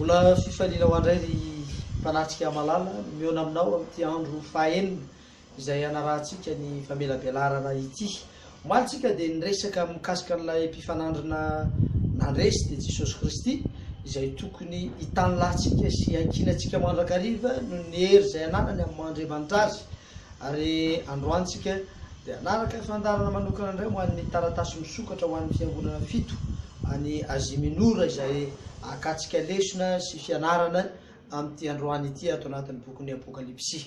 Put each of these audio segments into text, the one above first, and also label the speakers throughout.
Speaker 1: Mbola fifaliana ho andray ry mpanatrika malala ny mihaona aminao amin'ity andro fahaenina izay hanarahantsika ny famelabelarana ity. Omaly tsika dia niresaka mikasika an'ilay mpifanandrina nandresy dia Jesosy Kristy izay tokony hitan'ny lahintsika sy hankinantsika mandrakariva noho ny hery izay ananany amin'ny maha Andriamanitra azy. Ary androany tsika dia hanaraka fandaharana manokana indray ho an'ny taratasy misokatra ho an'ny fiangonana fito any Azia Minora izay ahakantsika lesona sy fianarana amin'ity androany ity ato anatin'ny bokin'ny Apokalypsy.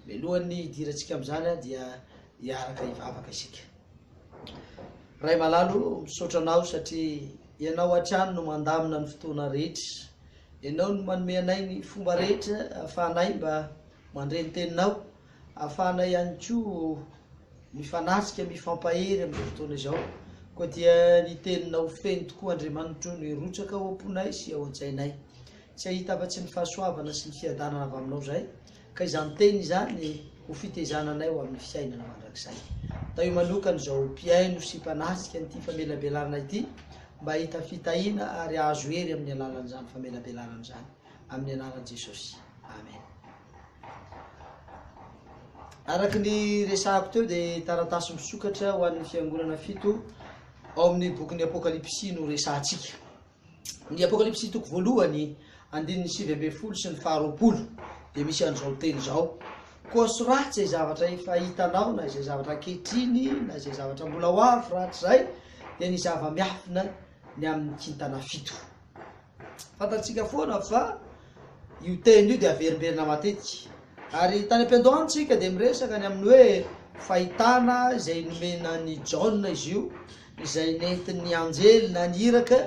Speaker 1: Mialohan'ny hidirantsika amin'izany dia hiaraka hivavaka isika. Ray malalo, misaotra Anao satria Ianao hatrany no mandamina ny fotoana rehetra. Ianao no manome anay ny fomba rehetra ahafahanay mba Mandre ny teninao, ahafahanay ihany koa mifanatrika, mifampahery amin'izao fotoana izao. Koa dia ny teninao feno tokoa Andriamanitro no hirotsaka ao am-ponay sy ao an-tsainay. Tsy hahita afa-tsy ny fahasoavana sy ny fiadanana avy aminao izahay, ka izany teny izany ho fitaizana anay ho amin'ny fiainana mandrakizay. Tahio manokana izao mpihaino sy mpanatrika an'ity famelabelarana ity mba hahita fitahiana ary hahazo hery amin'ny alalan'izany famelabelarana izany. Amin'ny anaran'i Jesosy. Amen. Araka ny resahako teo dia taratasy misokatra ho an'ny fiangonana fito ao amin'ny bokin'ny Apokalypsy no resahantsika. Ny Apokalypsy toko voalohany, andininy sivy ambin'ny folo sy ny faharoapolo dia misy an'izao teny izao. Koa soraty izay zavatra efa hitanao na izay zavatra ankehitriny na izay zavatra mbola ho avy rahatrizay dia ny zava-miafina ny amin'ny kintana fito. Fantatsika foana fa io teny io dia averimberina matetika. Ary tany am-piandohana isika dia miresaka ny amin'ny hoe fahitana izay nomenan'i Jaona izy io, izay nentin'ny anjely na ny iraka,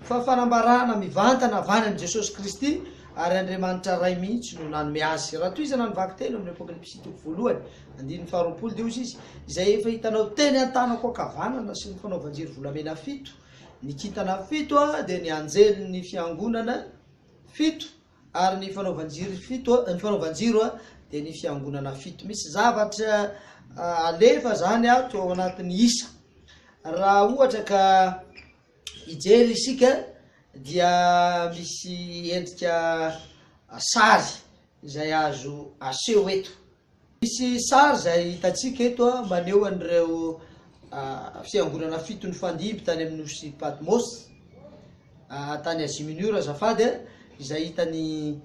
Speaker 1: fa fanambarana mivantana avy any amin'i Jesosy Kristy, ary Andriamanitra Ray mihitsy no nanome azy. Raha tohizana ny vaky telo amin'ny Apôkalipsy toko voalohany, andininy faharoapolo, dia hoy izy, Izay efa hitanao teny an-tanako ankavanana sy ny fanaovan-jiro volamena fito, Ny kintana fito dia ny anjelin'ny fiangonana fito, ary ny fanaovan-jiro fito, ny fanaovan-jiro dia ny fiangonana fito. Misy zavatra alefa izany ato ao anatin'ny isa. Raha ohatra ka hijery isika dia misy endrika sary izay azo aseho eto. Misy sary izay hitantsika eto maneho an'ireo fiangonana fito nifandimby tany amin'ny nosy Patmos, tany Asia Minora azafady, izay hitan'i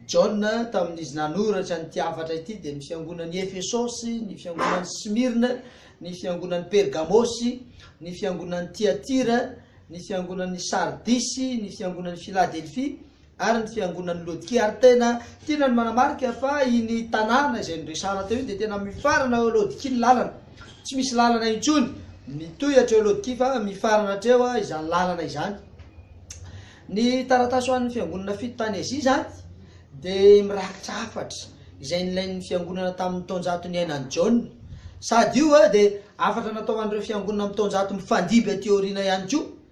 Speaker 1: Jaona tamin'izy nanoratra an'ity hafatra ity dia ny fiangonan'i Efesosy, ny fiangonan'i Smyrne, ny fiangonan'i Pergamosy, ny fiangonan'i Tyatira, ny fiangonan'i Sardisy, ny fiangonan'i Filadelfia ary ny fiangonan'i Lodikia ary tena tiana ny manamarika fa iny tanàna izay noresahana teo iny dia tena mifarana ao Lodikia ny lalana, tsy misy lalana intsony mitohy hatreo Lodikia fa mifarana hatreo izany lalana izany. Ny taratasy ho an'ny fiangonana fito tany Azia izany dia mirakitra hafatra izay nilain'ny fiangonana tamin'ny taonjato niainan'i Jaona, sady io dia hafatra natao ho an'ireo fiangonana amin'ny taonjato mifandimby aty aoriana ihany koa.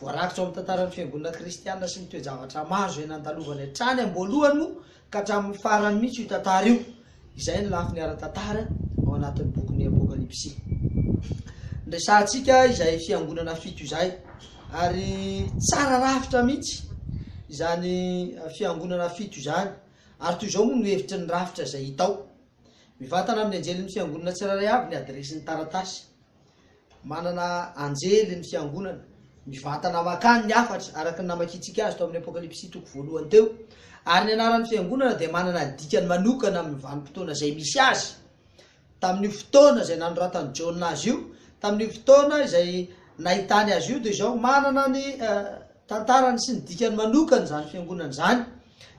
Speaker 1: Voarakitra ao amin'ny tantaran'ny Fiangonana kristiana sy ny toe-javatra maro izay nandalovany hatrany am-boalohany moa ka hatramin'ny farany mihitsy io tantara io. Izay ny lafiny ara-tantara ao anatin'ny bokin'ny Apokalypsy. Niresahantsika izay fiangonana fito izay ary tsara rafitra mihitsy izany fiangonana fito izany ary toy izao moa no hevitry ny rafitra izay hita ao. Mivantana amin'ny anjelin'ny fiangonana tsirairay avy ny adiresin'ny taratasy. Manana anjely ny Fiangonana, mivantana mankany ny hafatra, araka ny namakiantsika azy tao amin'ny Apokalypsy toko voalohany teo. Ary ny anaran'ny Fiangonana dia manana dikany manokana amin'ny vanim-potoana izay misy azy. Tamin'io fotoana izay nanoratan'i Jaona azy io, tamin'io fotoana izay nahitany azy io, dia izao, manana ny. tantarany sy ny dikany manokana izany fiangonana izany.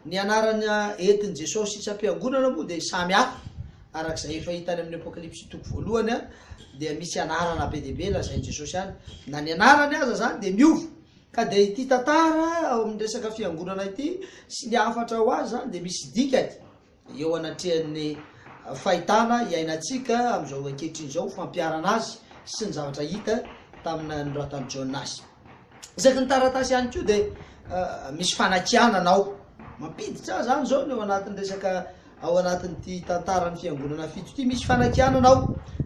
Speaker 1: Ny anarana entin'i Jesosy isam-piangonana moa dia samy hafa. Araka izay efa hita any amin'ny Apokalypsy toko voalohany dia misy anarana be dia be lazain'i Jesosy any. Na ny anarany aza izany dia miova. Ka dia ity tantara ao amin'ny resaka fiangonana ity sy ny hafatra ho azy izany dia misy dikany. Eo anatrehan'ny fahitana iainantsika amin'izao ankehitriny izao, fampiharana azy sy ny zavatra hita tamin'ny nanoratan'i Jaona azy. Isaky ny taratasy ihany koa dia misy fanakianana ao. Mampiditra izany izao ny ao anatin'ny resaka ao anatin'ity tantaran'ny fiangonana fito ity. Misy fanakianana ao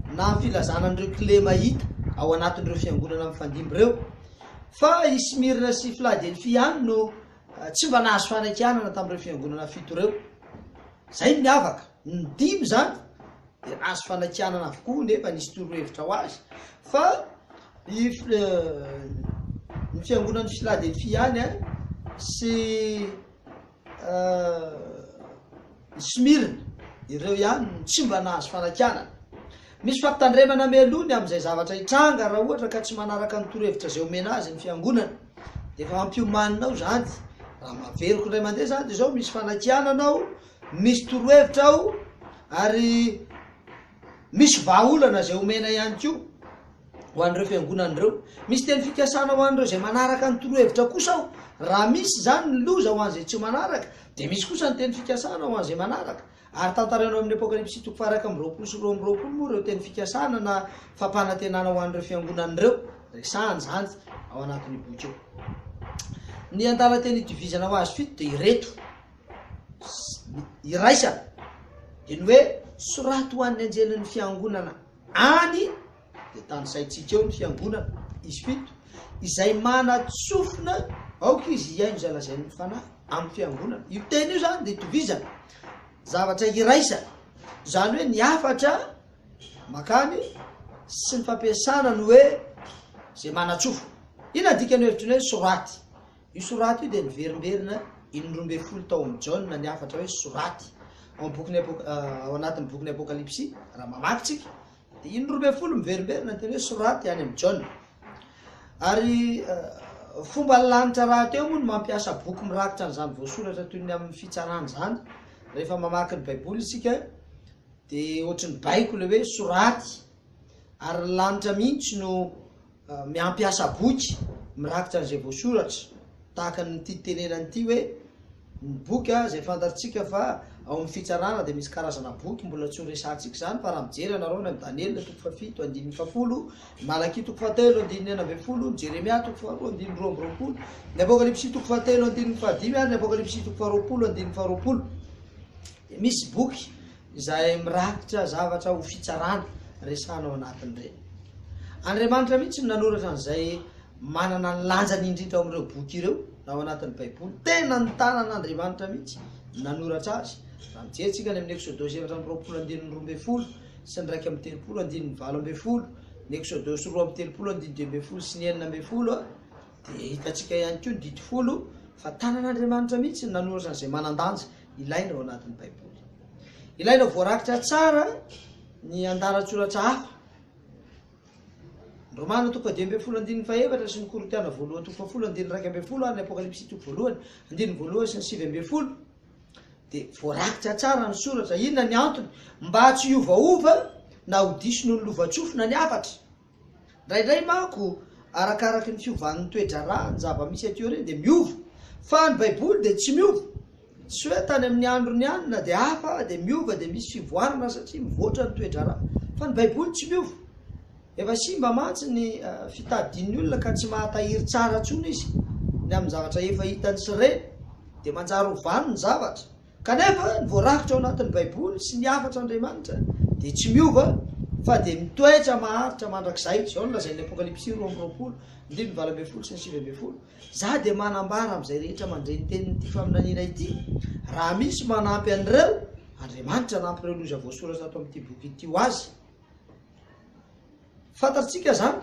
Speaker 1: na amin'ny filazana an'ireo kilema hita ao anatin'ireo fiangonana mifandimby ireo. Fa i Smyrna sy Filadelfia ihany no Tsy mba nahazo fanakianana tamin'ireo fiangonana fito ireo. Izay no miavaka. Ny dimy izany dia nahazo fanakianana avokoa nefa nisy torohevitra ho azy fa ny ny fiangonan'i Philadelphia ihany sy I Smirne, ireo ihany no tsy mba nahazo fanakianana. Misy fampitandremana mialoha ny amin'izay zavatra hitranga raha ohatra ka tsy manaraka ny torohevitra izay omena azy ny Fiangonana. Efa hampiomanina ao izany. Raha maveriko indray mandeha izany dia izao, misy fanakianana ao, misy torohevitra ao, ary. Misy vahaolana izay omena ihany koa ho an'ireo fiangonana ireo. Misy teny fikasana ho an'ireo izay manaraka ny torohevitra kosa ao. Raha misy izany ny loza ho an'izay tsy manaraka, dia misy kosa ny teny fikasana ho an'izay manaraka. Ary tantaraina ao amin'ny Apokalypsy toko faha-iraika amby roapolo sy roa amby roapolo moa ireo teny fikasana na fampanantenana ho an'ireo fiangonana ireo. Resahana izany ao anatin'io boky io. Ny andalan-teny itovizana ho azy fito dia ireto. iraisana dia ny hoe soraty ho an'ny anjelin'ny fiangonana any dia tanisaintsika eo ny fiangonana izy fito izay manatsofina aoka izy hihaino izay lazain'ny fanahy amin'ny fiangonana io teny io zany dia tovizana zavatra iraisana izany hoe ny afatra makany sy ny fampiasana ny hoe izay manatsofina ina dikany hevitry ny hoe soraty Io soraty io dia niverimberina in'ny roa ambin'ny folo taon'i Jaona ny hafatra hoe soraty. Ao bokin'ny Apok, ao anatin'ny bokin'ny Apokalypsy, raha mamaky tsika, dia in'ny roa ambin'ny folo miverimberina ny teny hoe soraty any amin'i Jaona. Ary fomba ny lanitra rahateo moa ny mampiasa boky mirakitra an'izany voasoratra toy ny amin'ny fitsarana izany. Rehefa mamaky ny Baiboly isika, dia ohatry ny baiko ilay hoe soraty, ary ny lanitra mihitsy no Miampiasa boky mirakitra an'izay voasoratra, tahaka ny ity tenenana ity hoe, Ny boky a, izay fantatrtsika fa ao amin'ny fitsarana dia misy karazana boky mbola tsy noresahantsika izany fa raha mijery ianareo any amin'ny Daniela toko fahafito andininy fahafolo, ny Malakia toko fahatelo andininy enina ambin'ny folo, ny Jeremia toko faharoa andininy roa amby roapolo, ny Apokalypsy toko fahatelo andininy fahadimy ary ny Apokalypsy toko faharoapolo andininy faharoapolo dia misy boky izay mirakitra zavatra ho fitsarana resahana ao anatin'ireny. Andriamanitra mihitsy no nanoratra an'izay manana ny lanjany indrindra ao amin'ireo boky ireo na ao anatin'ny Baiboly. Tena ny tanan'Andriamanitra mihitsy nanoratra azy. Raha mijery tsika any amin'ny Eksodosy efatra amby roapolo andininy roa ambin'ny folo sy ny iraika amby telopolo andininy valo ambin'ny folo, ny Eksodosy roa amby telopolo andininy dimy ambin'ny folo sy ny enina ambin'ny folo, Dia hitantsika ihany koa ny Didy folo fa tanan'Andriamanitra mihitsy no nanoratra an'izay manan-danja ilaina ao anatin'ny Baiboly. Ilaina voarakitra tsara ny andalan-tsoratra hafa. Ny Romana toko fahadimy ambin'ny folo andininy fahefatra sy ny Korintiana voalohany toko fahafolo andininy iraika ambin'ny folo ary ny Apokalypsy toko voalohany andininy voalohany sy ny sivy ambin'ny folo dia voarakitra tsara ny soratra. Inona ny antony? Mba tsy hiovaova na ho diso noho ny lovantsofina ny hafatra. Indraindray manko, arakaraky ny fiovan'ny toe-draharaha ny zava-misy aty aoriana dia miova. Fa ny Baiboly dia tsy miova. Tsy hoe tany amin'ny androny ihany na dia hafa dia miova dia misy fivoarana satria mivoatra ny toe-draharaha. Fa ny Baiboly tsy miova. Efa simba mantsy ny fitadidian'ny olona ka tsy mahatahiry tsara intsony izy ny amin'ny zavatra efa hitany sy reny. Dia manjary ovany ny zavatra. Kanefa, ny voarakitra ao anatin'ny Baiboly sy ny hafatra Andriamanitra dia tsy miova fa dia mitoetra maharitra mandrakizay. Izao no lazain'ny Apokalypsy roa amby roapolo, andininy valo ambin'ny folo sy ny sivy ambin'ny folo, Izaho dia manambara amin'izay rehetra mandre ny tenin'ity faminaniana ity, raha misy manampy an'ireo andriamanitra anampy ireo loza voasoratra ato amin'ity boky ity ho azy. Fantatsika izany.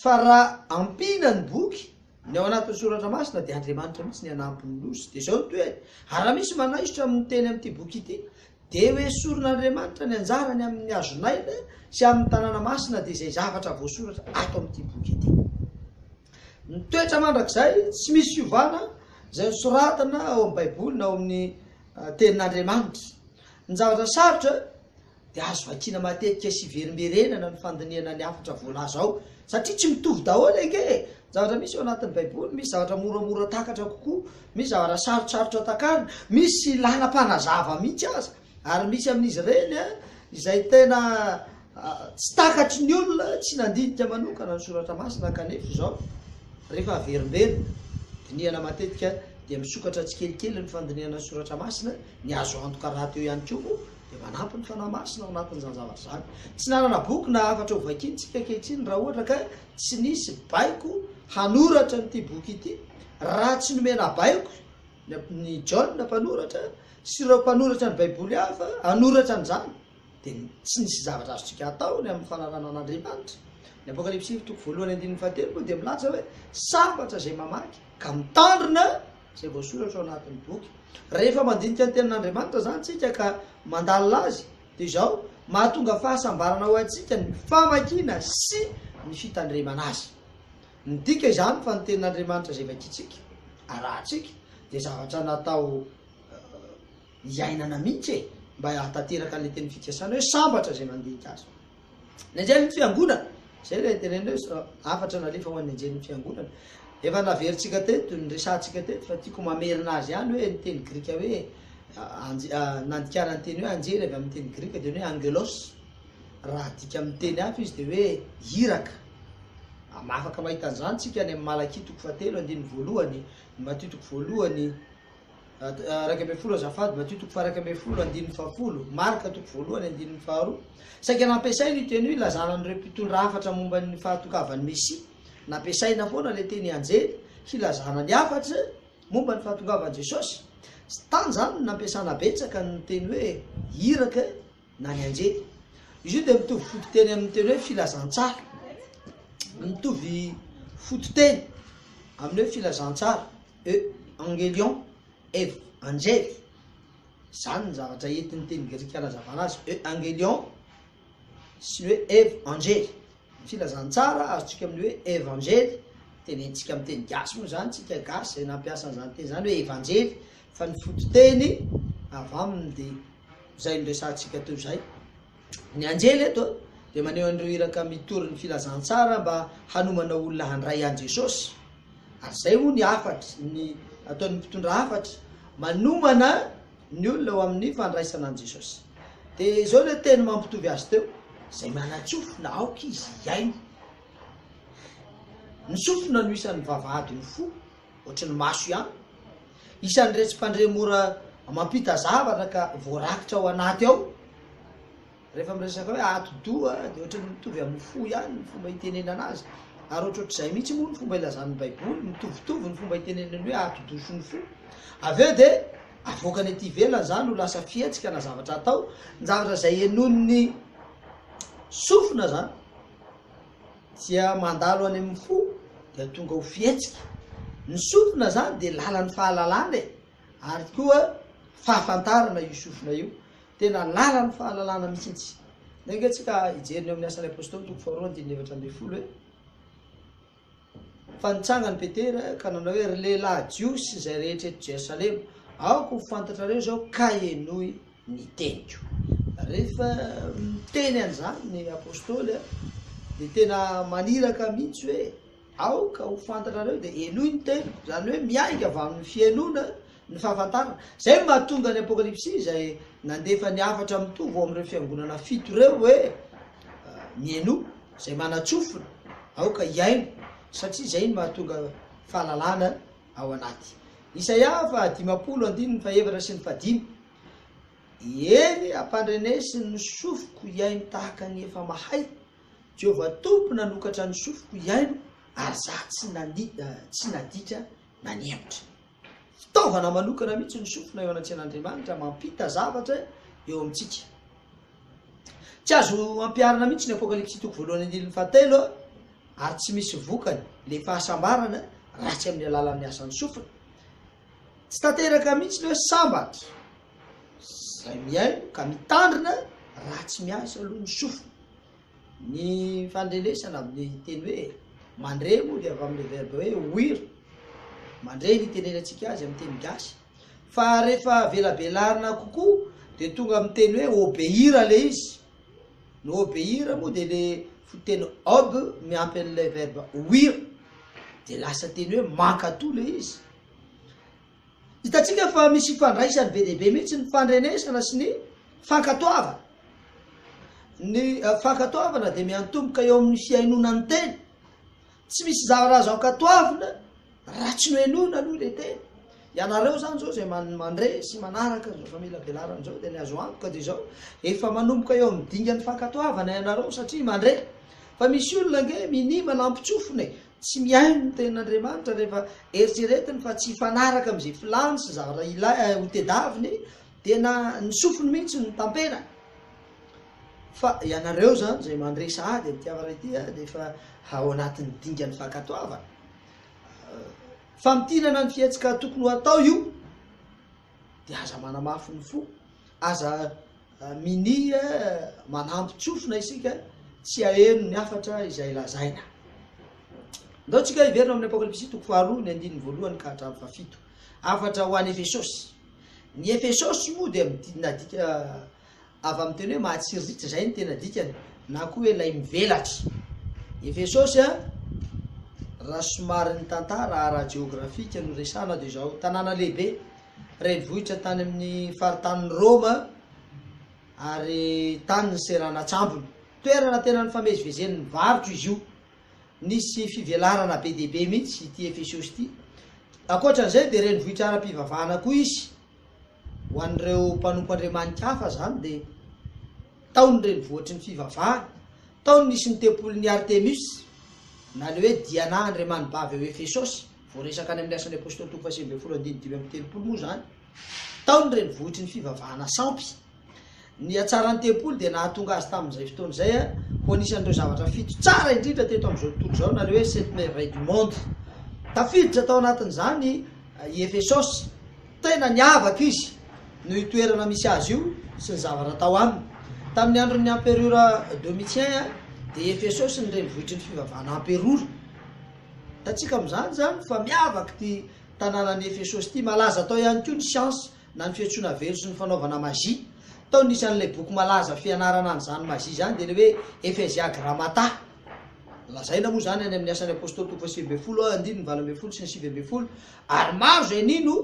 Speaker 1: Fa raha ampiana ny boky, ny ao anatin'ny soratra masina dia Andriamanitra mihitsy ny hanampy ny Nosy. Dia izao no tohiny, ary raha misy manaisotra amin'ny teny amin'ity boky ity, dia ho esorin'Andriamanitra ny anjarany amin'ny hazon'aina sy amin'ny tanàna masina dia izay zavatra voasoratra ato amin'ity boky ity. Ny toetra mandrakizay tsy misy fiovana izay nosoratana ao amin'ny Baiboly na ao amin'ny Tenin'Andriamanitra. Ny zavatra sarotra. dia azo vakiana matetika sy iverimberenana ny fandinihana ny hafatra voalaza ao satria tsy mitovy daholo ange e! zavatra misy ao anatin'ny baiboly, misy zavatra moramora takatra kokoa, misy zavatra sarotsarotra takarina, misy ilàna mpanazava mihitsy aza, ary misy amin'izy ireny izay tena tsy takatry ny olona tsy nandinika manokana ny soratra masina kanefa izao rehefa averimberina, dinihana matetika dia misokatra tsikelikely ny fandinihana ny soratra masina, ny azo antoka rahateo ihany koa moa dia manampy ny Fanahy Masina ao anatin'izany zavatra izany. Tsy nanana boky na hafatra hovakiana isika ankehitriny raha ohatra ka tsy nisy baiko hanoratra an'ity boky ity, raha tsy nomena baiko ny John mpanoratra sy ireo mpanoratra ny Baiboly hafa hanoratra an'izany, dia tsy nisy zavatra azontsika atao ny amin'ny fananana an'Andriamanitra. Ny Apokalypsy toko voalohany andininy fahatelo moa dia milaza hoe sambatra izay mamaky ka mitandrina izay voasoratra ao anatin'ny boky. Rehefa mandinika ny tenin'Andriamanitra izany tsika ka mandalina azy dia izao, mahatonga fahasambarana ho antsika ny famakiana sy ny fitandremana azy. Midika izany fa ny tenin'Andriamanitra izay vakintsika, arahantsika, dia zavatra natao hiainana mihitsy e! mba hahatanteraka an'ilay teny fikasana hoe sambatra izay mandinika azy. Ny anjelin'ny fiangonana, izay ilay teneninay hoe hafatra nalefa ho an'ny anjelin'ny fiangonana. Efa naverintsika teto, niresahantsika teto fa tiako mamerina azy ihany hoe ny teny grika hoe nandikana ny teny hoe anjely avy amin'ny teny grika dia ny hoe angelos. Raha adika amin'ny teny hafa izy dia hoe iraka. Afaka mahita an'izany tsika any amin'ny Malakia toko fahatelo andininy voalohany, Matio toko voalohany, Iraika ambin'ny folo azafady, Matio toko faha-iraika ambin'ny folo andininy fahafolo, Marka toko voalohany andininy faharoa. Saika nampiasaina io teny io hilazana an'ireo mpitondra hafatra momba ny fahatokavan'ny Mesia. Nampiasaina foana ilay teny anjely hilazana ny hafatra momba ny fahatokavan'i Jesosy. Tany izany no nampiasana betsaka ny teny hoe iraka na ny anjely. Izy io dia mitovy fototeny amin'ny teny hoe filazantsara, mitovy fototeny amin'ny hoe filazantsara, e angelion, ev anjely. Izany ny zavatra entin'ny teny grika anazavana azy, e angelion sy ny hoe ev anjely. Ny filazantsara azontsika amin'ny hoe ev anjely, tenentsika amin'ny teny gasy moa izany tsika gasy izay nampiasa an'izany teny izany hoe evanjely, fa ny fototeny avy aminy dia izay noresahantsika teo izay. Ny anjely eto dia maneho an'ireo iraka mitory ny filazantsara mba hanomana olona handray an'i Jesosy. Ary izay moa ny hafatry ny ataon'ny mpitondra hafatry, manomana ny olona ho amin'ny fandraisana an'i Jesosy. Dia izao ilay teny mampitovy azy teo, izay manan-tsofina aoka izy hiaina. Ny sofina no isan'ny vavahadin'ny fo. Ohatry ny maso ihany. Isan'iretsy mpandre mora mampita zavatra ka voarakitra ao anaty ao. Rehefa miresaka hoe ati-doha dia ohatry ny mitovy amin'ny fo ihany ny fomba itenenana azy. Ary ohatrohatr'izay mihitsy moa ny fomba ilazan'ny Baiboly, mitovitovy ny fomba itenenany hoe ati-doha sy ny fo. Avy eo dia avoakany aty ivelany izany ho lasa fihetsika na zavatra atao, ny zavatra izay henoin'ny sofina izany. Dia mandalo any amin'ny fo dia tonga ho fihetsika. Ny sofina izany dia lalan'ny fahalalana e! Ary koa fahafantarana io sofina io. Tena lalan'ny fahalalana mihitsy. Ndray ange tsika hijery ny ao amin'ny Asan'ny Apostoly toko faharoa andininy efatra ambin'ny folo hoe, Fa nitsangany Petera ka nanao hoe, Ry lehilahy Jiosy sy izay rehetra eto Jerosalema, aoka ho fantatrareo izao ka henoy ny teniko. Rehefa miteny an'izany ny apostoly dia tena maniraka mihitsy hoe, aoka ho fantatrareo dia henoy ny teniko, izany hoe miainga avy amin'ny fihenoana ny fahafantarana. Izay no mahatonga ny Apokalypsy izay nandefa ny hafatra mitovy ho amin'ireo fiangonana fito ireo hoe, Mihainoa, izay manan-tsofina, aoka hihaino, satria izay no mahatonga fahalalana ao anaty Isaia faha dimampolo andininy fahefatra sy ny fahadimy, Eny, ampandrenesy ny sofiko hihaino tahaka ny efa mahay, Jehovah Tompo nanokatra ny sofiko hihaino, ary za tsy nani, eh, tsy nadika na nihemotra. Fitaovana manokana mihitsy ny sofina eo anatrehan'Andriamanitra, mampita zavatra eo amintsika. Tsy azo ampiharina mihitsy ny Apokalypsy toko voalohany andininy fahatelo, ary tsy misy vokany le fahasambarana ratsy amin'ny alalan'ny asan'ny sofina. Tsy tanteraka mihitsy le hoe sambatra zay mihaino ka mitandrina raha tsy miasa aloha ny sofina. Ny fandrenesana amin'ny teny hoe mandre moa dia avy amin'ny verbe hoe ouïr. Mandre ny itenenantsika azy amin'ny teny gasy. Fa rehefa velabelarina kokoa dia tonga amin'ny teny hoe obéir le izy. Ny obeir moa dia le fototeny ob miampy an'ilay verbe ouir dia lasa teny hoe mankatò le izy. Hitantsika fa misy ifandraisany be dia be mihitsy ny fandrenesana sy ny fankatoavana. Ny eh, fankatoavana dia miantomboka eo amin'ny fihainoana ny teny. Tsy misy zavatra azo ankatoavina raha tsy nohenoina aloha ilay teny. Ianareo izany izao izay mandre sy manaraka izao famelabelarana izao dia ny azo antoka dia izao, efa manomboka eo amin'ny dingan'ny fankatoavana ianareo satria mandre. Fa misy olona ange minia manampin-tsofina e! Tsy mihaino ny tenin'Andriamanitra rehefa eritreretiny fa tsy hifanaraka amin'izay filany sy zavatra hotedaviny dia na ny sofiny mihitsy no tamperany. Fa ianareo izany izay mandre sahady amin'ity hafatra ity dia efa ao anatin'ny dingan'ny fankatoavana. Famintinana ny fihetsika tokony ho atao io dia aza manamafy ny fo, aza minia manampy tsofina isika tsy aheno ny hafatra izay lazaina. Ndao tsika hiverina amin'ny Apokalypsy toko faharoa ny andininy voalohany ka hatramin'ny fahafito. Hafatra ho an'i Efesosy. Ny Efesosy moa dia midina dika Avy amin'ny teny hoe mahatsiriritra izay ny tena dikany, na koa hoe ilay mivelatra. Efesosy a! Raha somary ny tantara ara-jeografika no resahana dia izao, tanàna lehibe, renivohitra tany amin'ny faritanin'i Roma ary tany ny seranan-tsambony. Toerana tena nifamezivezen'ny varotra izy io. Nisy fivelarana be dia be mihitsy ity Efesosy ity. Ankoatra an'izay dia renivohitra ara-pivavahana koa izy. ho an'ireo mpanompo andriamani-kafa izany dia tao ny renivohitry ny fivavahana, tao no nisy ny tempolin'i Artemus, na ilay hoe Diana andriamanibavy ao Efesosy, voaresaka any amin'ny Asan'ny Apôstôly toko fahasivy ambin'ny folo andininy dimy amby telopolo moa izany, tao ny renivohitry ny fivavahana sampy. Ny hatsaran'ny tempoly dia nahatonga azy tamin'izay fotoana izay ho anisan'ireo zavatra fito tsara indrindra teto amin'izao tontolo izao, na ilay hoe Sept Merveilles du Monde. Tafiditra tao anatin'izany i Efesosy. Tena niavaka izy noho io toerana misy azy io sy ny zavatra tao aminy. Tamin'ny andron'ny Amperora Domitien, dia i Efesosy ny renivohitry ny fivavahana amperora. Hitantsika amin'izany izany fa miavaka ity tanànan'i Efesosy ity. Malaza tao ihany koa ny siansa. na ny fiantsoana velo sy ny fanaovana magie. Tao ny isan'ilay boky malaza fianarana an'izany magie izany dia ny hoe Ephesia Grammata. Lazaina moa izany any amin'ny Asan'ny Apôstôly toko fahasivy ambin'ny folo, andininy valo ambin'ny folo sy ny sivy ambin'ny folo, ary maro izay nino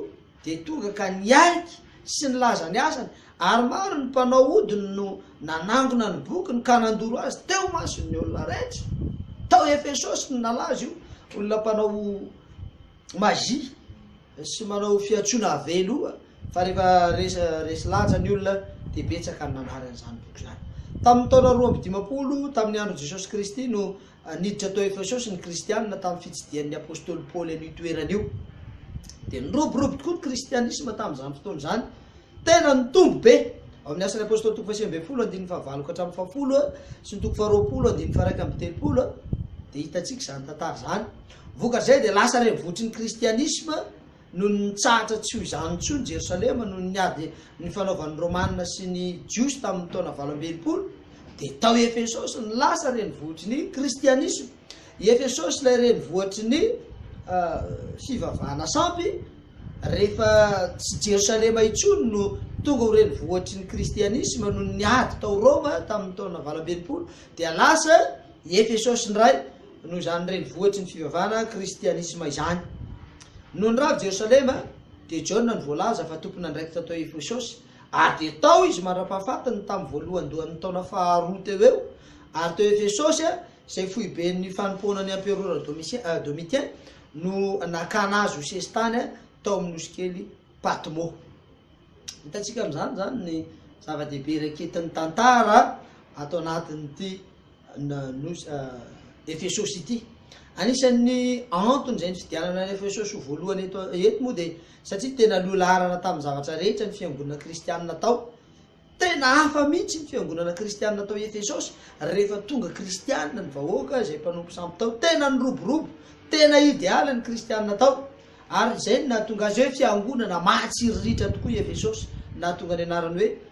Speaker 1: dia tonga ka niaiky sy nilaza ny asany, ary maro ny mpanao ody no nanangona ny bokiny ka nandoro azy teo imason'ny olona rehetra. Tao Efesosy no nalaza io olona mpanao magie sy manao fiantsoana ave loha fa rehefa resa resy lanja ny olona dia betsaka ny nanary an'izany boky izany. Tamin'ny taona roa amby dimampolo tamin'ny andron'i Jesosy Kristy no niditra tao Efesosy ny Kristianina tamin'ny fitsidihan'ny apostoly Paoly an'io toerana io. Dia niroborobo tokoa ny kristianisma tamin'izany fotoana izany. Tena nitombo be. Ao amin'ny Asan'ny Apostoly toko fahasivy ambin'ny folo andininy fahavalo ka hatramin'ny fahafolo sy ny toko faharoapolo andininy faharaika amby telopolo dia hitantsika izany tantara izany. Vokatr'izay dia lasa revotry ny kristianisma noho ny nitsahatra tsy ho izany intsony Jerosalema noho ny ady nifanaovan'ny Romana sy ny Jiosy tamin'ny taona valo amby enimpolo dia tao Efesosy no lasa renivohitry ny kristianisma. I Efesosy ilay renivohitry ny fivavahana sampy rehefa tsy Jerosalema intsony no tonga ho renivohitry ny kristianisma noho ny ady tao Roma tamin'ny taona valo amby enimpolo dia lasa i Efesosy indray Noho izany renivohitry ny fivavahana kristianisma izany. Noho ny rava Jerosalema, dia Jaona no voalaza fa tompon'andraikitra tao Efesosy, ary dia tao izy mandra-pahafatiny tamin'ny voalohandohan'ny taona faharoa teo ho eo, ary teo Efesosy, izay foiben'ny fanompoanan'ny emperora Domitien, no nakana azy ho sesitany tao amin'ny nosikely Patmo. Hitantsika amin'izany izany ny zava-dehibe iray ankehitin'ny tantara ato anatin'ity na nosy Efesosy ity. Anisan'ny antony izay nifidianana an'i Efesosy ho voalohany eto eto moa dia satria tena loha laharana tamin'ny zavatra rehetra ny fiangonana kristianina tao. Tena hafa mihitsy ny fiangonana kristianina tao Efesosy rehefa tonga kristianina ny vahoaka izay mpanompo sampy tao. Tena niroborobo, tena idealy ny kristianina tao. Ary izay no nahatonga azy hoe fiangonana mahatsiriritra tokoa i Efesosy, nahatonga ny anarany hoe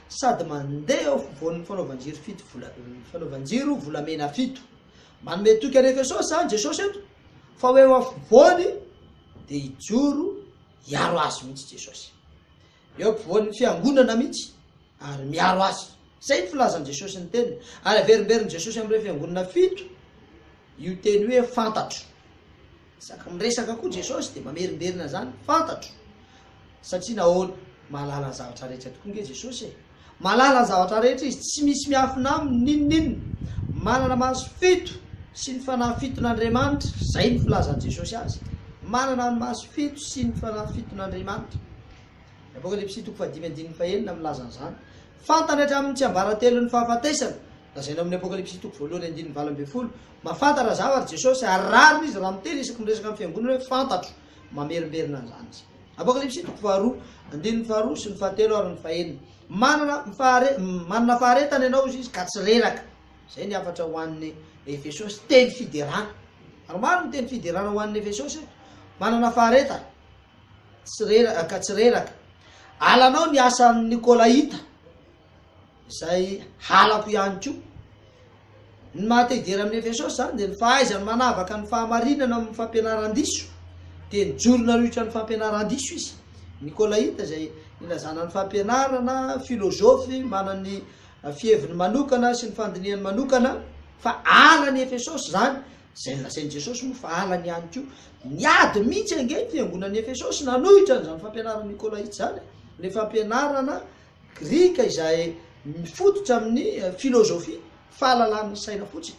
Speaker 1: sady mandeha eo afovoan'ny fanaovan-jiro fito vola, fanaovan-jiro volamena fito. Manome toky an'i Efesosy izany Jesosy eto, fa ho eo afovoany dia hijoro hiaro azy mihitsy Jesosy. Eo ampovoan'ny fiangonana mihitsy ary miaro azy. Izay ny filazan'i Jesosy ny teniny. Ary averimberin'i Jesosy amin'ireo fiangonana fito io teny hoe fantatro. Isaky ny resaka koa Jesosy dia mamerimberina izany, fantatro. Satria nahoana? Mahalala ny zavatra rehetra tokoa nge Jesosy e! Mahalala ny zavatra rehetra Izy, tsy misy miafina Aminy n'inon'inona. Manana maso fito sy ny fanahy fiton'Andriamanitra, izay ny filazan'i Jesosy Azy. Manana ny maso fito sy ny fanahy fiton'Andriamanitra. Ny Apokalypsy toko fahadimy andininy fahenina milaza an'izany. Fantany hatramin'ny tsiambaratelon'ny fahafatesana, lazaina ao amin'ny Apokalypsy toko voalohany andininy valo ambin'ny folo, Mahafantatra zavatra i Jesosy ary rariny izy raha miteny isaky ny miresaka amin'ny fiangonana hoe fantatro. Mamerimberina an'izany izy. Apokalypsy toko faharoa, andininy faharoa sy ny fahatelo ary ny fahenina. Manana fahare, manana faharetana ianao, hoy izy, ka tsy reraka. Izay ny hafatra ho an'ny Efesosy, teny fiderana. Ary maro ny teny fiderana ho an'ny Efesosy eto. Manana faharetana, tsy reraka, ka tsy reraka. Alanao ny asan'ny Nikolaita. izay halako ihany koa. Ny maha te hidera amin'ny Efesosy izany dia ny fahaizany manavaka ny fahamarinana amin'ny fampianaran-diso, dia nijoro nanohitra ny fampianaran-diso izy. Nikolaita izay nilazana ny fampianarana, filozofy, manan'ny fiheviny manokana sy ny fandinihany manokana, fa halan'i Efesosy izany, izay nolazain'i Jesosy moa fa halany ihany koa. Niady mihitsy ange ny fiangonan'i Efesosy nanohitra an'izany fampianaran'i Nikolaita izany, ilay fampianarana Grika izay mifototra amin'ny filozofia, fahalalan'ny saina fotsiny.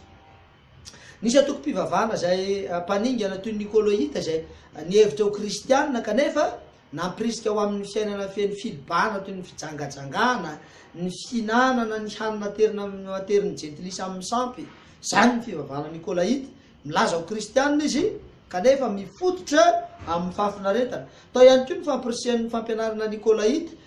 Speaker 1: Nisy antokom-pivavahana izay mpaningana toy ny Nikôloita izay nihevitra ho kristiana kanefa nampirisika ho amin'ny fiainana feno filibana toy ny fijangajangana, ny fihinanana ny hanina aterina amin'ny aterin'ny jentilisa amin'ny sampy. Izany ny fivavahana nikôlaita. Milaza ho kristiana izy kanefa mifototra amin'ny fahafinaretana. Tao ihany koa ny fampirisihan'ny fampianarana nikôlaita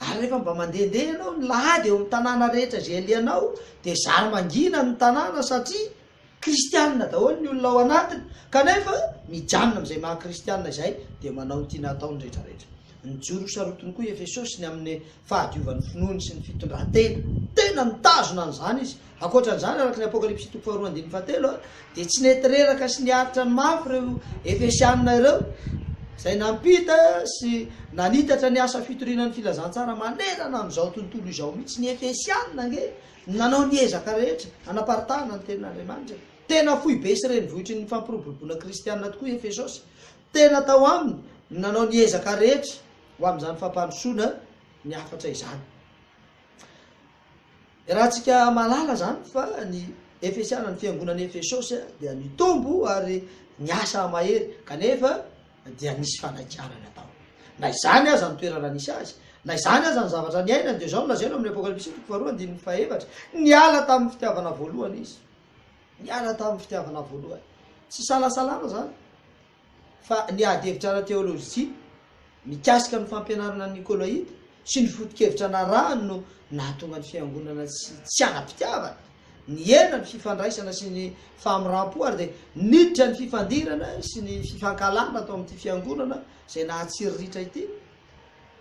Speaker 1: Ary rehefa mba mandehandeha ianao ny lahady eo amin'ny tanàna rehetra izay alehanao, dia zary mangina ny tanàna satria kristianina daholo ny olona ao anatiny, kanefa mijanona amin'izay maha kristianina izay dia manao ny tiana hatao ny rehetrarehetra. Nijoro ho sarotiny koa i Efesosy ny amin'ny fahadiovan'ny finoany sy ny fitondran-tena. Tena nitazona an'izany izy Ankoatra an'izany, araka ny Apokalypsy toko faharoa andininy fahatelo, dia tsy nety reraka sy niaritra ny mafy ireo Efesiana ireo, izay nampita sy nanitatra ny asa fitoriana ny filazantsara manerana an'izao tontolo izao mihitsy. Ny Efesiana ange no nanao ny ezaka rehetra hanaparitahana ny Tenin'Andriamanitra. Tena foibe sy renivohitry ny fampiroboroboana kristiana tokoa i Efesosy. Tena tao aminy no nanao ny ezaka rehetra ho amin'izany fampandrosoana ny hafatra izany. Iarahantsika mahalala izany fa ny Efesiana, ny fiangonan'i Efesosy, dia nitombo ary niasa mahery, kanefa dia nisy fanakianana tao. Na izany aza ny toerana nisy azy, na izany aza ny zavatra niainany, dia izao no lazaina ao amin'ny Apokalypsy toko faharoa andininy fahefatra, Niala tamin'ny fitiavana voalohany izy. Niala tamin'ny fitiavana voalohany. Tsy isalasalana izany. fa ny ady hevitra ara-teolojia mikasika ny fampianarana nikolaita sy ny foto-kevitra narahany no nahatonga ny Fiangonana tsy tsy ara-pitiavana. Nihena ny fifandraisana sy ny fahamiram-po ary dia niditra ny fifandirana sy ny fifankahalana tao amin'ity Fiangonana izay nahatsiriritra ity.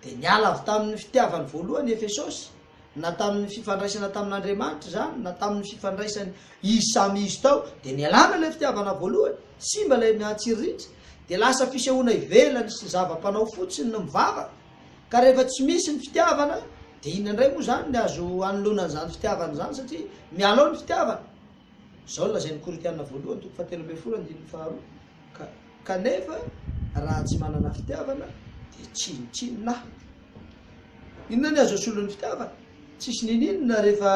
Speaker 1: Dia niala avy tamin' ny fitiavany voalohany i Efesôsy, na tamin' ny fifandraisana tamin' Andriamanitra izany na tamin' ny fifandraisany izy samy izy tao, dia nialana ilay fitiavana voalohany, simba ilay miantsiriritra, dia lasa fisehoana ivelany sy zava-panao fotsiny ny mivavaka, ka rehefa tsy misy ny fitiavana dia inona indray moa izany ny azo anoloana an' izany fitiavana izany satria miala ao ny fitiavana. Izao no lazain'ny Korintiana voalohany toko fahatelo ambin'ny folo andininy faharoa, Ka, kanefa raha tsy manana fitiavana dia tsinontsinona aho. Inona ny azo asolo ny fitiavana? Tsisy ninininona rehefa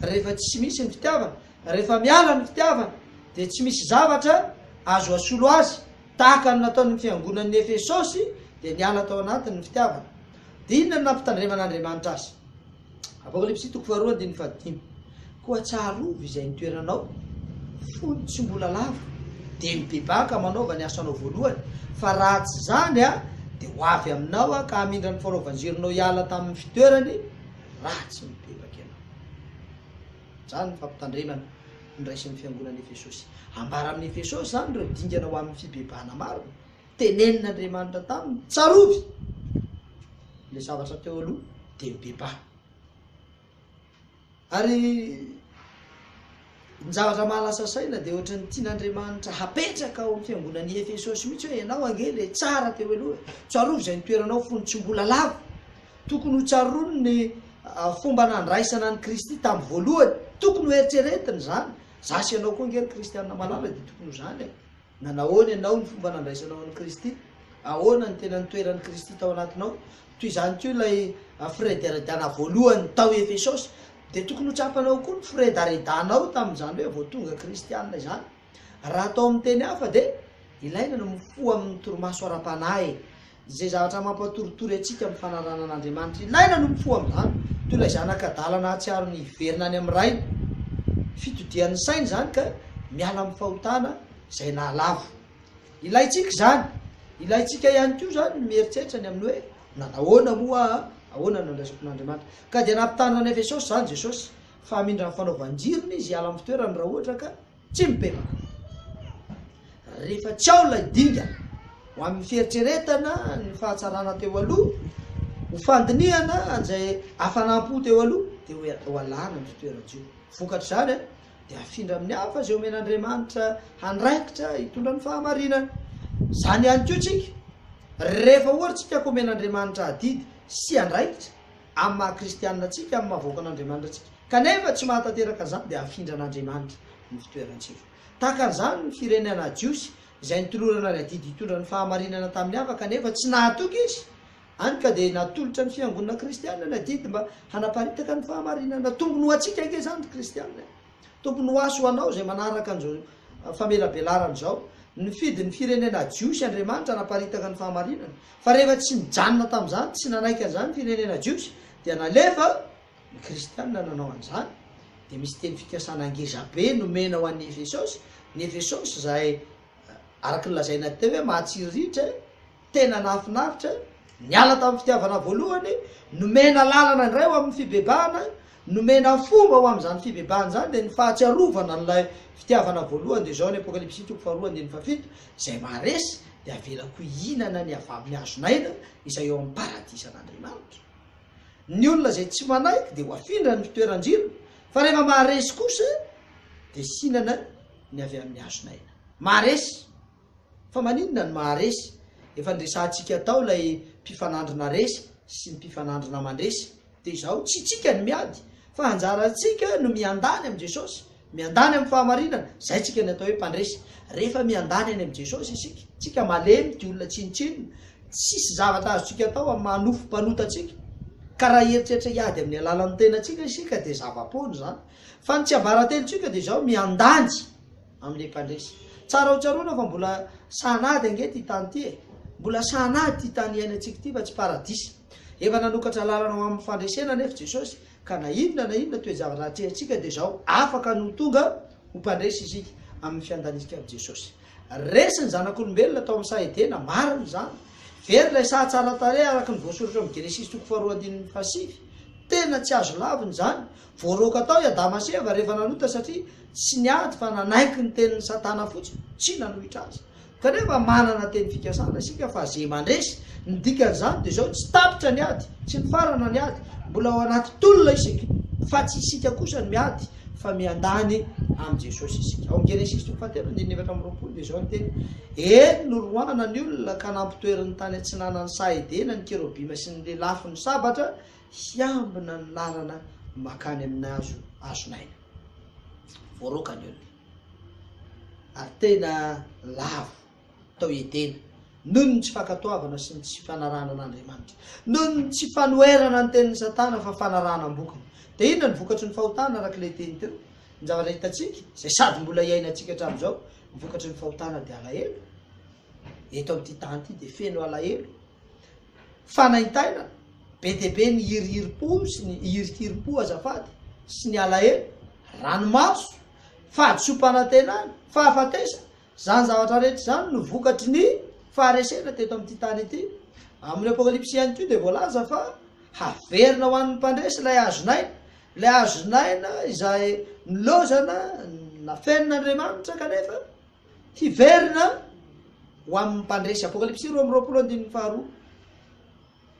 Speaker 1: rehefa tsy misy ny fitiavana. Rehefa miala ny fitiavana dia tsy misy zavatra azo asolo azy. Tahaka ny nataon'ny fiangonan'ny Efesosy dia niala tao anatiny ny fitiavana. Dia inona ny nampitandreman'Andriamanitra azy? Apokalypsy toko faharoa andininy fahadimy. Koa tsarovy izay nitoeranao fony tsy mbola lavo, dia mibebaka manaova ny asanao voalohany, fa raha tsy izany Aho dia ho avy aminao Aho ka hamindra ny fanaovan-jironao hiala tamin'ny fitoerany raha tsy mibebaka ianao. Izany ny fampitandremana noraisin'ny fiangonan'i Efesosy. Ambara amin'i Efesosy izany ireo dingana ho amin'ny fibebahana marina tenenin'Andriamanitra taminy, Tsarovy ilay zavatra teo aloha, dia mibebaha. Ary ny zavatra mahalasa saina dia ohatry ny tian'Andriamanitra hapetraka ao amin'ny fiangonan'i Efesosy mihitsy hoe ianao ange ilay tsara teo aloha e. Tsarovy izay ny toeranao fony tsy mbola lavo. Tokony ho tsaroany ny fomba nandraisana an'i Kristy tamin'ny voalohany. Tokony ho eritreretiny izany. Za sy ianao koa ange ry Kristianina malala dia tokony ho izany e. Nanahoana ianao ny fomba nandraisanao an'i Kristy? Ahoana no tena nitoeran'i Kristy tao anatinao? Toy izany koa ilay firedaredana voalohany tao Efesosy, dia tokony ho tsapanao koa ny firedaredanao tamin'izany hoe vao tonga Kristianina izany. Raha atao amin'ny teny hafa, dia ilaina ny mifoha amin'ny torimaso ara-panahy Izay zavatra mampiatoritory antsika amin'ny fanarahana an'Andriamanitra ilaina no mifoha amin'izany, toy ilay zanaka adala nahatsiaro ny hiverina any amin'ny rainy. Fitodihan'ny saina izany ka miala amin'ny fahotana izay nahalavo. Ilaintsika izany. Ilaintsika ihany koa izany ny mieritreritra ny amin'ny hoe, 'Nanao ahoana moa aho? Ahoana no andraisako an'Andriamanitra? Ka dia nampitanina an'i Efesosy izany Jesosy, fa hamindra ny fanaovan-jirony Izy hiala amin'ny fitoerany raha ohatra ka, Tsy mibebaka. Rehefa tsy ao ilay dingana, ho amin'ny fieritreretana ny fahatsarana teo aloha, ho fandinihana an'izay hafanam-po teo aloha, dia ho ho alana ny fitoeran-jo. Vokatr'izany, dia hafindra amin'ny hafa izay omen'Andriamanitra andraikitra hitondra ny fahamarinana. Izany ihany koa isika, rehefa ohatra isika ka omen'Andriamanitra adidy sy andraikitra, amin'ny maha kristianina antsika, amin'ny maha vahoakan'Andriamanitra antsika, kanefa tsy mahatanteraka an'izany dia hafindran'Andriamanitra ny fitoerantsika. Tahaka an'izany ny firenena jiosy izay nitolorana ny adidy hitondra ny fahamarinana tamin'ny hafa kanefa tsy nahatoky izy, hany ka dia natolotra ny fiangonana kristianina ny adidy mba hanaparitaka ny fahamarinana. Tombony ho antsika ange izany ry kristianina e! Tokony ho aso ho anao izay manaraka an'izao famelabelarana izao. Nifidy ny firenena jiosy Andriamanitra hanaparitaka ny fahamarinana. Fa rehefa tsy nijanona tamin'izany, tsy nanaiky an'izany ny firenena jiosy, dia nalefa ny kristiana nanao an'izany. Dia misy teny fikasana ngeza be nomena ho an'i Efesosy, ny Efesosy izay, araka ny lazaina teo hoe mahatsiriritra, Tena nahafinaritra, niala tamin'ny fitiavana voalohany, nomena lalana indray ho amin'ny fibebahana, nomena fomba ho amin'izany fibebahana izany dia ny fahatsiarovana an'ilay fitiavana voalohany dia izao ny Apokalypsy toko faharoa andininy fahafito, Izay maharesy dia avelako hihinana ny avy amin'ny hazon'aina izay eo amin'ny paradisan'Andriamanitra. Ny olona izay tsy manaiky dia ho afindra ny fitoeran-jirony, fa rehefa maharesy kosa dia hihinana ny avy amin'ny hazon'aina. Maharesy! Fa maninona no maharesy? Efa niresahantsika tao ilay mpifanandrina resy sy ny mpifanandrina mandresy. Dia izao, tsy tsika no miady, fa anjarantsika no miandany amin'i Jesosy, miandany amin'ny fahamarinana, izay tsika no atao hoe mpandresy. Rehefa miandany any amin'i Jesosy isika, tsika malemy dia olona tsinontsinona, tsisy zavatra azontsika atao amin'ny maha nofo mpanota antsika. Ka raha hieritreritra hiady amin'ny alalan'ny tenantsika isika dia zava-poana izany. Fa ny tsiambarantenintsika dia izao, miandany. amin'ilay mpandresy. Tsara ho tsaroana fa mbola sahanady ange ity tany ity e! Mbola sahanady ity tany iainantsika ity fa tsy paradisa. Efa nanokatra lalana ho amin'ny fandresena anefa Jesosy ka na inona na inona toe-javatra atrehintsika dia izao afaka ny ho tonga ho mpandresy isika amin'ny fiandanitsika amin'i Jesosy. Resy ny zanak'olombelona tao amin'ny saha Edena, marina izany. Very ilay saha tsara tarehy araka ny voasoratra amin'ny Genesisy toko faharoa andininy fahasivy. Tena tsy azo lavina izany Voaroaka tao i Adama sy Eva rehefa nanota satria tsy niady fa nanaiky ny tenin'i Satana fotsiny, tsy nanohitra azy. Kanefa manana teny fikasana isika fa ze mandresy, ny dikan'izany dia izao, tsy tapitra ny ady, tsy nifarana ny ady, mbola ao anaty tolona isika, fa tsy isika kosa no miady fa miandany amin'i Jesosy isika. Ao amin'ny Genesisy toko fahatelo andininy efatra amby roapolo dia izao ny teny, Eny, noroahana ny olona ka nampitoeriny tany atsinanan'ny saha Edena ny kerobima sy ny lelafo ny sabatra hiambina ny lalana makany amin'ny hazo hazon'aina. Voaroaka ny olona, ary tena lavo tao Edena, noho ny tsy fankatoavana sy ny tsy fanarahana an'Andriamanitra. Noho ny tsy fanoherana ny tenin'i Satana fa fanarahana am-bokony. Dia inona no vokatry ny fahotana, araka ilay teny teo? Ny zavatra hitantsika, izay sady mbola iainantsika hatramin'izao, ny vokatry ny fahotana dia alahelo. Eto amin'ity tany ity dia feno alahelo. Fanaintaina be dia be ny hirihirim-po sy ny hirikirim-po azafady sy ny alahelo, ranomaso, fahadisoam-panantenana, fahafatesana, izany zavatra rehetra izany no vokatry ny faharesena teto amin'ity tany ity. Amin'ny Apokalypsy ihany koa dia voalaza fa haverina ho an'ny mpandresy ilay hazon'aina, ilay hazon'aina izay nilaozana nafenin'Andriamanitra kanefa, Hiverina ho amin'ny mpandresy. Apokalypsy roa amby roapolo andininy faharoa.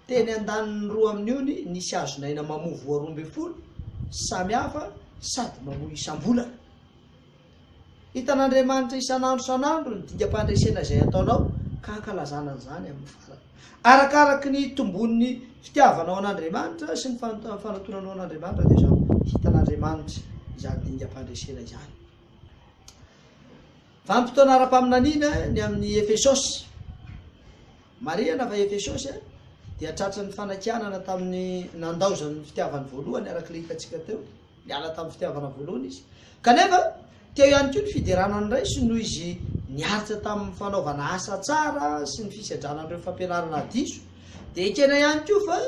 Speaker 1: Teny andaniny roa amin'io ny nisy hazon'aina mamoa voa roa ambin'ny folo samy hafa sady mamoa isam-bolana. Hitan'Andriamanitra isan'andro isan'andro ny dingam-pandresena izay ataonao ka hankalazana an'izany amin'ny farany. Arakaraky ny hitomboan'ny fitiavanao an'Andriamanitra sy ny fanotonanao an'Andriamanitra dia samy hitan'Andriamanitra izany dingam-pandresena izany. Vanim-potoana ara-paminaniana ny amin'i Efesosy. Marihana fa Efesosy dia tratry ny fanakianana tamin'ny nandaozan'ny fitiavany voalohany, araka ilay hitantsika teo, niala tamin'ny fitiavana voalohany izy. Kanefa, teo ihany koa ny fiderana ny Ray sy noho Izy niaritra tamin'ny fanaovana asa tsara sy ny fisedrana an'ireo fampianarana diso, dia ekena ihany koa fa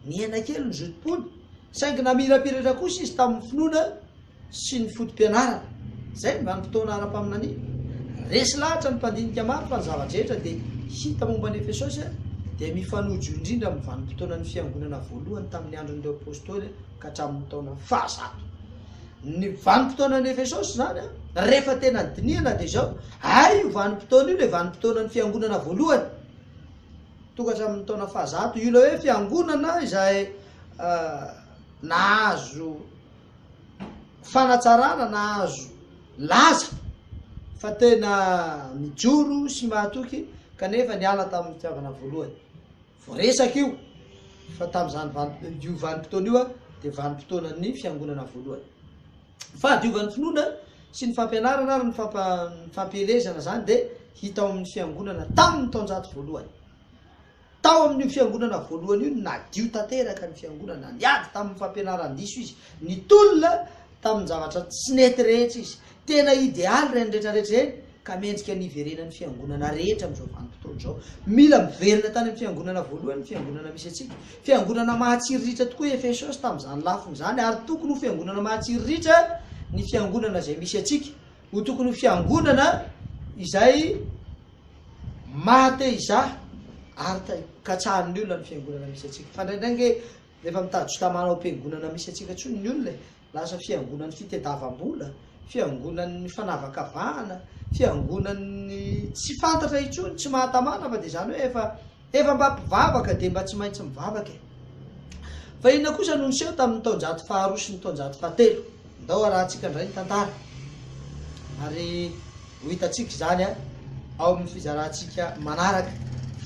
Speaker 1: nihena kely ny zotom-pony, saingy namirapiratra kosa izy tamin'ny finoana, sy ny foto-pianarana. Izay ny vanim-potoana ara-paminaniana. Resy lahatra ny mpandinika maro fa ny zava-drehetra dia hita momba an'i Efesosy dia mifanojo indrindra amin'ny vanim-potoanan'ny fiangonana voalohany tamin'ny andron'ireo apostoly ka hatramin'ny taona fahazato. Ny vanim-potoanan'i Efesosy izany, rehefa tena dinihana dia izao, ary io vanim-potoana io ilay vanim-potoanan'ny fiangonana voalohany, tonga hatramin'ny taona fahazato, io ilay hoe fiangonana izay nahazo fanatsarana na azo laza fa tena mijoro sy mahatoky kanefa niala tamin'ny fitiavana voalohany. Voaresaka io fa tamin'izany io vanim-potoana io dia vanim-potoanan'ny fiangonana voalohany. Fahadiovan'ny finoana sy ny fampianarana ary ny fampielezana izany dia hita ao amin'ny fiangonana tamin'ny taonjato voalohany. Tao amin'io fiangonana voalohany io, nadio tanteraka ny fiangonana. Niady tamin'ny fampianaran-diso izy. Nitolona tamin-javatra tsy nety rehetra izy. Tena idealy ireny rehetra rehetra ireny, ka mendrika ny hiverenan'ny fiangonana rehetra amin'izao vanim-potoana izao. Mila miverina tany amin'ny fiangonana voalohany ny fiangonana misy antsika. Fiangonana mahatsiriritra tokoa i Efesosy tamin'izany lafiny izany, ary tokony ho fiangonana mahatsiriritra ny fiangonana izay misy antsika. Ho tokony ho fiangonana izay. Maha te hizaha ary ta katsahan' ny olona ny fiangonana misy antsika. Fa indraindray ange rehefa mitady juta mana ao am-piangonana misy antsika intsony ny olona e. Lasa fiangonan' ny fitediavam-bola, fiangonan' ny fanavakavahana, fiangonan' ny tsy fantatra intsony, tsy mahatamana fa dia izany hoe efa Efa mba mpivavaka dia mba tsy maintsy mivavaka e! Fa inona kosa no niseho tamin'ny taonjato faharoa sy ny taonjato fahatelo? Ndao harahantsika indray ny tantara ary ho hitantsika izany ao amin'ny fizarantsika manaraka.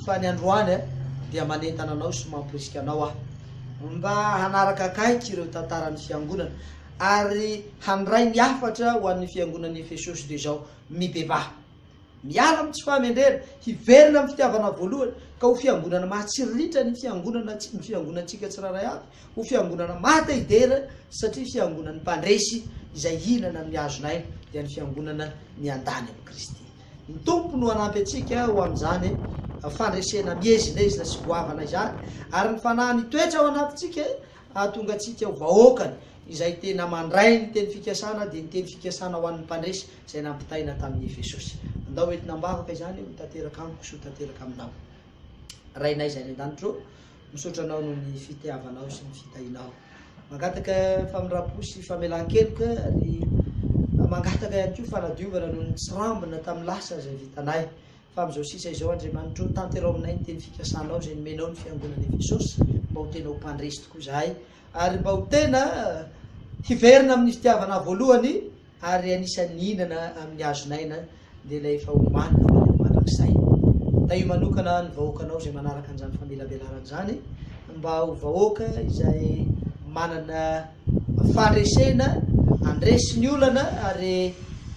Speaker 1: Fa ny androany dia manentana anao sy mamporisika anao aho mba hanaraka akaiky ireo tantaran'ny fiangonana ary handray ny hafatra ho an'ny fiangonan'i Efesosy toy izao, Mibebaha. Miala amin'ny tsy fahamendrehana, hiverina amin'ny fitiavana voalohany, ka ho fiangonana mahatsiriritra ny fiangonana ny fiangonantsika tsirairay avy, ho fiangonana maha te hidera, satria fiangonan'ny mpandresy izay hihinana amin'ny hazon'aina dia ny fiangonana miandany amin'i Kristy. Ny Tompo no hanampy antsika ho amin'izany fandresena miezinezina sy goavana izany, ary ny Fanahy mitoetra ao anatintsika, hahatongatsika ho vahoakany izay tena mandray ny teny fikasana dia ny teny fikasana ho an'ny mpandresy izay nampitaina tamin'i Jesosy. Andao ho entina am-bavaka izany ho tanteraka amiko sy ho tanteraka aminao. Rainay izay any an-danitra ô, misaotra anao noho ny fitiavanao sy ny fitahianao. Mangataka famindram-po sy famelan-keloka ary mangataka ihany koa fanadiovana noho ny tsirambina tamin'ny lasa izay vitanay. Fa amin'izao sisa izao, Andriamanitra ô, tanterao aminay ny teny fikasanao izay nomenao ny fiangonan'i Efesosy, mba ho tena ho mpandresy tokoa izahay, ary mba ho tena hiverina amin'ny fitiavana voalohany, ary anisan'ny hihinana amin'ny hazon'aina, dia ilay efa homanina ho any amin'ny mandrakizay. Tahio manokana ny vahoakanao izay manaraka an'izany famelabelarana izany, mba ho vahoaka izay manana. Fandresena, Handresy ny olana ary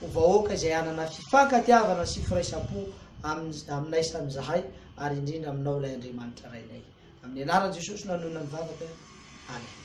Speaker 1: ho vahoaka izay hanana fifankatiavana sy firaisam-po amin'ny, aminay samy izahay ary indrindra aminao ilay Andriamanitra Rainay. Amin'ny anaran'i Jesosy no hanoina ny vavaka. Amen.